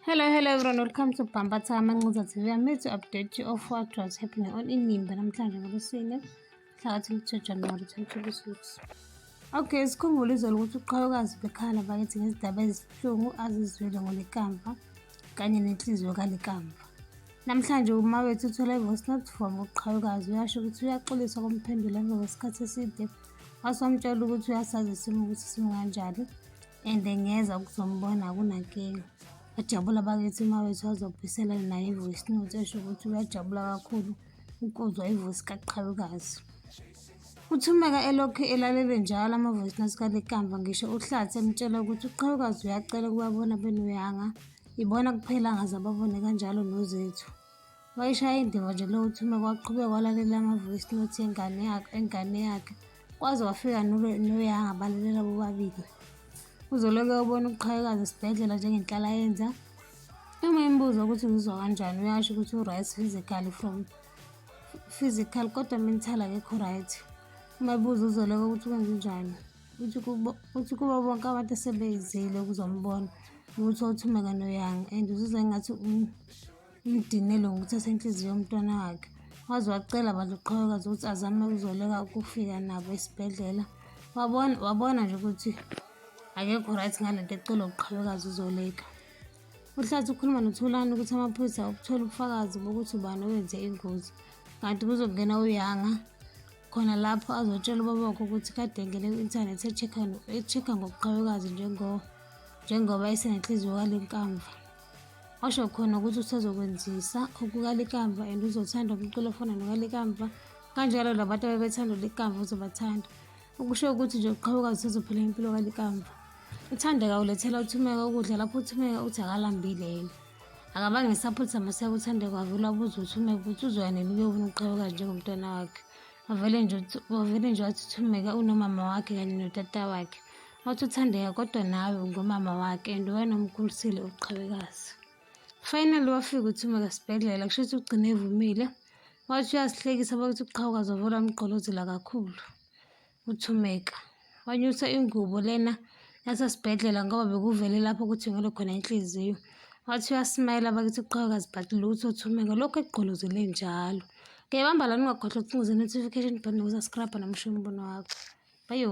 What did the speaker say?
Hello, hello everyone, welcome to Bhambatha Amanquza TV. I'm here to update you of what was happening on Inimba namhlanje ngoLwesine mhlakathi lithe January 2026. Okay, sikhumbule izolo ukuthi uqhayokazi bekhala bakithi ngezidaba ezibuhlungu azizwile ngolekamva kanye nenhliziyo kalekamva. Namhlanje uma wethu uthola i-voice note from uqhayokazi uyasho ukuthi uyaxolisa komphendula emva kwesikhathi eside wasomtshela ukuthi uyasazi isimo ukuthi simunganjani and ngeza ukuzombona kunankinga bajabula bakithi uma wethu azobhisela naye ivoice note esho ukuthi uyajabula kakhulu ukuzwa ivoice kaqhalukazi uthumeka elokhu elalele njalo amavoice note kalekamva ngisho uhlathi emtshela ukuthi uqhalukazi uyacela ukubabona benuyanga ibona kuphela ngaze ababone kanjalo nozethu Wayishaya indiva nje leyo uThuma kwaqhubeka walalela ama-voice note engane yakhe engane yakhe kwaze wafika noyanga balalela bobabili. Uzoloke ubona uqhayekazi esibhedlela njengenhlala yenza uma imbuza ukuthi ngizwa kanjani uyasho ukuthi u-right physically from physical kodwa mental akekho right uma buza uzoloke ukuthi kwenzenjani uthi kubo uthi kubo bonke abantu esebeyizile ukuzombona ukuthi othume ngane yanga and uzizwa engathi umdinele ngokuthatha inhliziyo yomntwana wakhe waze wacela abantu uqhawekazi ukuthi azame ukuzoleka ukufika nabo esibhedlela wabona wabona nje ukuthi akekho right ngale nto ecela uqhawekazi uzoleka uhlathi ukhuluma nothulani ukuthi amaphoyisa ukuthola ubufakazi bokuthi ubani owenze ingozi kanti kuzongena uyanga khona lapho azotshela ubaba wakhe ukuthi kade engene ku-inthanethi e-check-a ngobuqhawekazi njengoba esenenhliziyo kalenkamva washo khona ukuthi usezokwenzisa okukalikamva and uzothanda umculo ofana nokalikamva kanjalo labantu abebethanda likamva uzobathanda ukusho ukuthi nje uqhawukazi usezophila impilo kalikamva uthanda kawulethela uthumeka ukudla lapho uthumeka uthi akalambile yena akabange ngisaphuthisa maseka uthande kwavula ubuza ukuthi umebutha uzoya nini uyofuna ukuqhaweka njengomntwana wakhe wavele nje wavele nje wathi uthumeka unomama wakhe kanye notata wakhe wathi uthandeka kodwa nawe ngomama wakhe and wena umkhulisile uqhawekazi finally wafika uthumeka sibhedlela kusho ukuthi ugcine evumile wathi uyasihlekisa bakuthi uqhawuka zovula umgqolozela kakhulu uthumeka wanyusa ingubo lena yasesibhedlela ngoba bekuvele lapho ukuthi ngalo khona inhliziyo wathi uyasimayela bakithi uqhaweka azibhati lutho uthumeka lokhu ekugqolozele njalo ngiyabamba la ningakhohlwa ukucingize notification button nokuza scrabha nomusho umbono wakho bayo